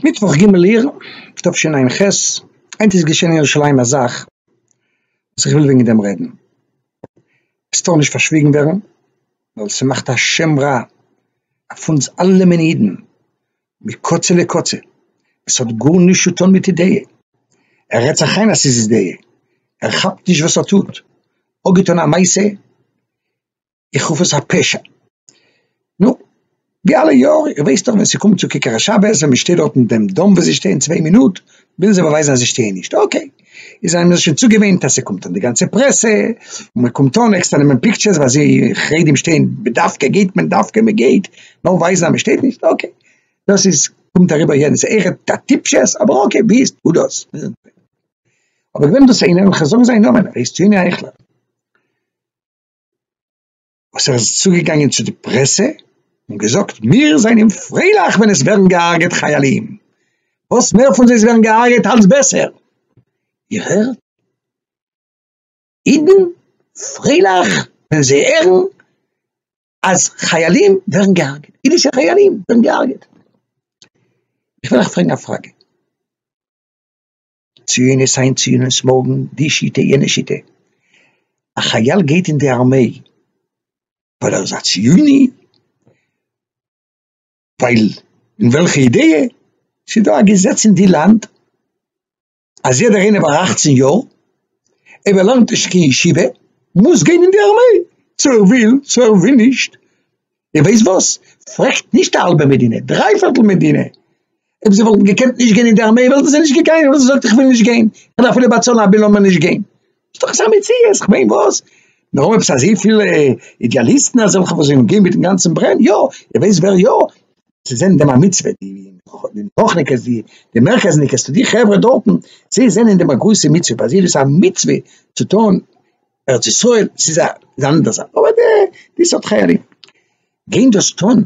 מיטוואך ג' אייר תשע ע ח, היינט איז געשען אין ירושלים א זאך וואס איך וויל וועגן דעם רעדן, עס טאר נישט פארשוויגן ווערן ווייל ס'מאכט א שם רע אויף אונז אלע מיני אידן מקצה לקצה, עס האט גארנישט צו טון מיט אידעיע, ער רעדט זיך איין אז ס'איז אידעיע, ער כאפט נישט וואס ער טוט, אפגעטון א מעשה, איך רוף עס א פשע. נו, ווי אלע יאר, איר ווייסט דאך ווען ס'קומט צו כיכר השבת, ווען מ'שטעלט דארט אין דעם דאם וואו זיי שטייען צוויי מינוט, ווילן זיי באווייזן אז זיי שטייען נישט, אקעי, איז זיי האבן זיך שוין צוגעוואינט אז ס'קומט אן די גאנצע פרעסע, און מ'קומט אן עקסטער נעמען פיקטשערס ווייל זיי חרדים שטייען בדווקא גייט מען דווקא מ'גייט נאר ווייזן אז מ'שטייט נישט, אקעי, דאס איז קומט אריבער יעדן ס'איכער א טיפשות אבער אקעי ווי איז טו דאס. אבער געווען דאס איינער, און כ'זאג זיין נאמען, ער הייסט יוני אייכלער. וואס ער איז צוגעגאנגען צו די פרעסע און געזאגט, מיר זענען פרייליך ווען עס ווערן געהארגעט חיילים, וואס מער פון זיי עס ווערן געהארגעט אלץ בעסער, איר הערט? אידן פרייליך ווען זיי הערן אז חיילים ווערן געהארגעט, אידישע חיילים ווערן געהארגעט. איך וויל אייך פרעגן א פראגע. ציונות היינט ציונות מארגן, די שיטה יענע שיטה, א חייל גייט אין די ארמעי ווייל ער איז א ציוני? ווייל אין וועלכע אידעע? ס'איז דא א געזעץ אין די לאנד אז יעדער איינער ביי אכצן יאר אויב ער לערנט נישט קיין ישיבה מוז גיין אין די ארמעי צו ער וויל צו ער וויל נישט, איר ווייסט וואס? פרעגט נישט א האלבע מדינה, דריי פערטל מדינה, אויב זיי וואלטן געקענט נישט גיין אין די ארמעי וואלטן זיי נישט געגאנגען, אבער זי זאגט איך וויל נישט גיין, איך דארף אפילו באצאלן א ביל לאמיר נישט גיין, איז דאך עס א מציאות, איך מיין וואס? מיר האבן עפעס אזויפיל אידעאליסטן אזעלכע וואס זענען גוט מיטן גאנצן ברען, יא, איר ווייסט ווער יא? זיי זענען דעם א מצוה, די נוחניקעס, די די מרכזניקעס, די חברה דארטן, זיי זענען דעם א גרויסע מצוה, פאר זיי איז דאס א מצוה צו טון ארץ ישראל ס'איז א אנדערע זאך אבער די די סארט חיילים גייען דאס טון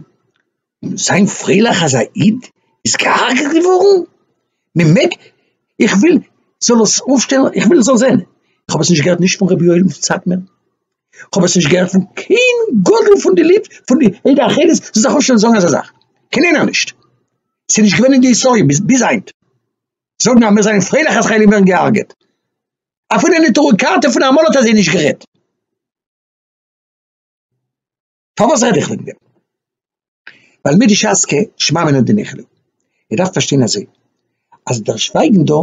און זיין פרייליך אז א איד איז געהארגעט געווארן? מ'מעג? איך וויל זאל עס אויפשטעלן איך וויל זאל זען איך האב עס נישט געהערט נישט פון רבי יואל פון סאטמער איך האב עס נישט געהערט פון קיין גדול פון די ליטוו פון די עדה החרדית זאל זיך אויפשטעלן זאגן אזא זאך קיין איינער נישט ס'איז נישט געווען אין די היסטאריע ביז היינט זאגן אז מיר זענען פרייליך אז חיילים ווערן געהארגעט. אפילו אין נטורי קרתא פון אמאל האט אזוי נישט גערעדט. פארוואס רעד איך וועגן דעם? ווייל מיט די שס ק שמע מינה דניחא. איר דארפט פארשטיין אזוי, אז דער שווייגן דא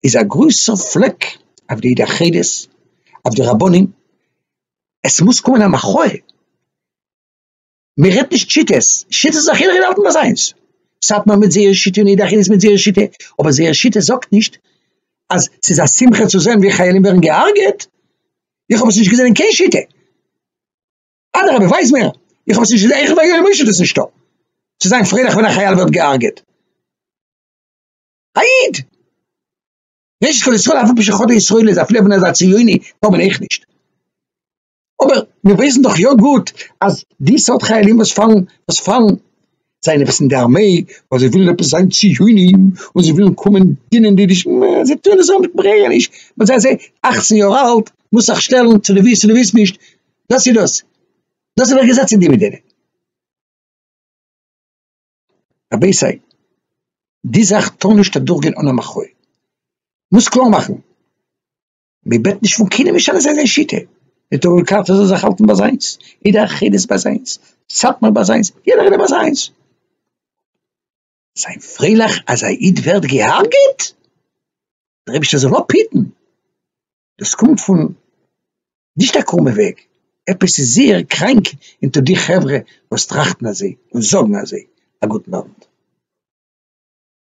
איז א גרויסע פלעק אויף די יחידות, אויף די רבנים, עס מוז קומען א מחאה. מען רעדט נישט שיטות, שיטות איז א חילוק אין האלטן ביי זיינס, סאטמאר מיט זייער שיטה און אידאך איז מיט זייער שיטה, אבער זייער שיטה זאגט נישט אז ס'איז א שמחה צו זען ווי חיילים ווערן געהארגעט, איך האב עס נישט געזען אין קיין שיטה, אדרבה ווייז מיר, איך האב עס נישט געזען, עכפ ביי יואל משה איז עס נישטא, צו זיין פרייליך ווען א חייל ווערט געהארגעט, א איד! ראשית כל ישראל אף על פי שחטא ישראל איז אפילו ווען ער איז א ציוני טאר מען אויך נישט. אבער מיר ווייסן דאך יא גוט אז די סארט חיילים וואס פאלן וואס פאלן זיי עפעס אין די ארמעי ווייל זיי ווילן עפעס זיין ציונים און זיי ווילן קומען דינען די נישט זיי טוען עס אן ברענעניש ווייל זיי זענען אַכצן יאר אלט מוזט זיך שטעלן צו דו ווילסט צו דו ווילסט נישט דאס איז דאס דאס איז דער געזעץ אין די מדינה. רבותי די זאך טאר נישט אדורכגיין אן א מחאה מוז קלאר מאכן. מען בעט נישט פון קיינעם משנה זיין זיין שיטה, די תורה קארטע זאל זיך האלטן ביי זיינס, אידא חדס ביי זיינס, סאטמאר ביי זיינס, יעדער אידער ביי זיינס. זיין פרייליך אז א איד ווערט געהארגעט? דער אייבישטער זאל אפהיטן. דאס קומט פון נישט א קרומע וועג, עפעס איז זייער קראנק אונטער די חברה וואס טראכטן אזוי און זאגן אזוי. א גוטן אוונט.